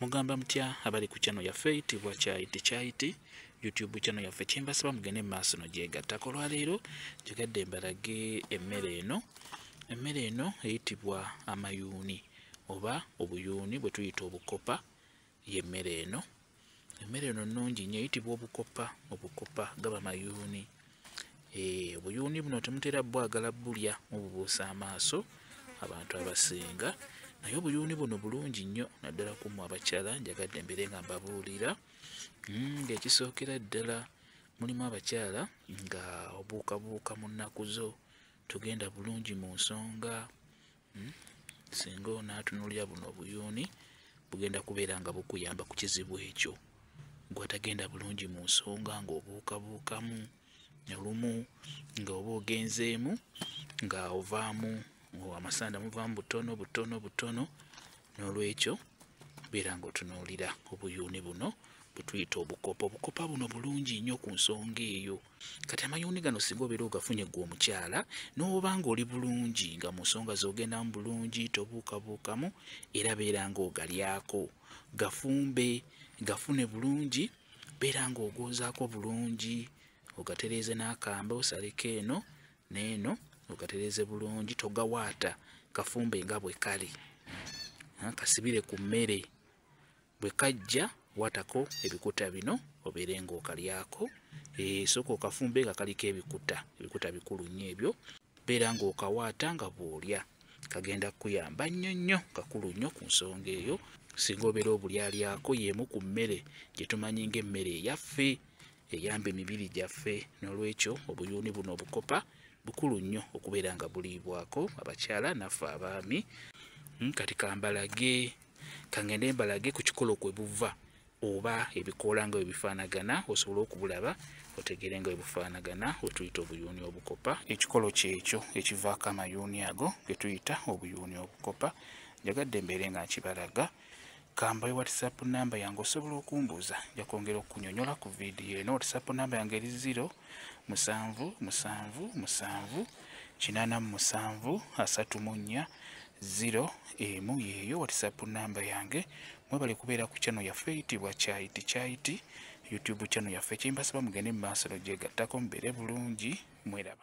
mugamba mutya abali ku channel yaffe itibwa kyaiti kyaiti youtube channel yaffe kyembasaba mugende mu maaso no gyegattako olwaleero gyegadde mbalage emmere eno emmere eno eyitibwa amayuuni oba obuyuuni bwe tuyita obukopa y'emmere eno emmere eno nnungi nnyo eyitibwa obukopa obukopa gaba mayuuni eh, obuyuuni buno temutera bwagala bulya mububuusa amaaso abantu abasinga naye obuyuuni buno bulungi nnyo naddala ku mwe abakyala njagadde mbeere nga mbabuulira hmm, ng'ekisookera ddala mulimu abakyala nga obuukabuuka mu nnaku zo tugenda bulungi mu nsonga hmm? singa onaatunulira buno obuyuuni bugenda kubeera nga bukuyamba ku kizibu ekyo gwatagenda bulungi mu nsonga ng'obuukabuukamu olumu nga oba ogenzeemu nga ovaamu amasanda muvaamu butono butono butono n'olwekyo beera ng'otunuulira obuyuuni buno bwetuyita obukopa obukopa buno bulungi nnyo ku nsonga eyo kati amayuuni gano singa obeera ogafunye gwe omukyala n'oba nga oli bulungi nga mu nsonga z'ogendamu bulungi tobuukabuukamu era beera nga ogalyako gafumbe gafune bulungi beera nga ogoozaako bulungi ogatereeze n'akambe osaleko eno neeno ogatereeze bulungi togawaata kafumbe nga bwe kali kasibire ku mmere bwe kajja watako ebikuta bino obeere ng'okalyako eh, sooka okafumbe nga kaliko ebikuta ebikuta bikulu nnyo ebyo beera ng'okawaata nga bw'olya kagenda kukuyamba nnyo nnyo kakulu nnyo ku nsonga eyo singa obeera obulyalyako y'emu ku mmere gye tumanyi ng'emmere eyaffe eyamba emibiri gyaffe n'olwekyo obuyuuni buno obukopa bukulu nnyo okubeera nga buliibwako abakyala naffe abaami hmm, kati kambalage kangende mbalage ku kikolo kwe buva oba ebikoola nga webifaanagana osobole okubulaba otegeere nga webufaanagana wetuyita obuyuuni obukopa ekikolo kyekyo ekivaako amayuuni ago getuyita obuyuuni obukopa njagadde mbeere nga nkibalaga kambayo whatsapp namba yange osobola okumbuuza nja kwongera okunyonyola ku vidiyo eno whatsapp namba yange eri ziro musanvu musanvu musanvu, musanvu. kinaana mu musanvu asatu mu nnya ziro emu yeeyo whatsapp namba yange mwebale kubeera ku channel yaffe eyitibwa kyayiti kyayiti youtube channel yaffe kyembasaba mugende mu maaso nogyegattako mubeere bulungi mweraba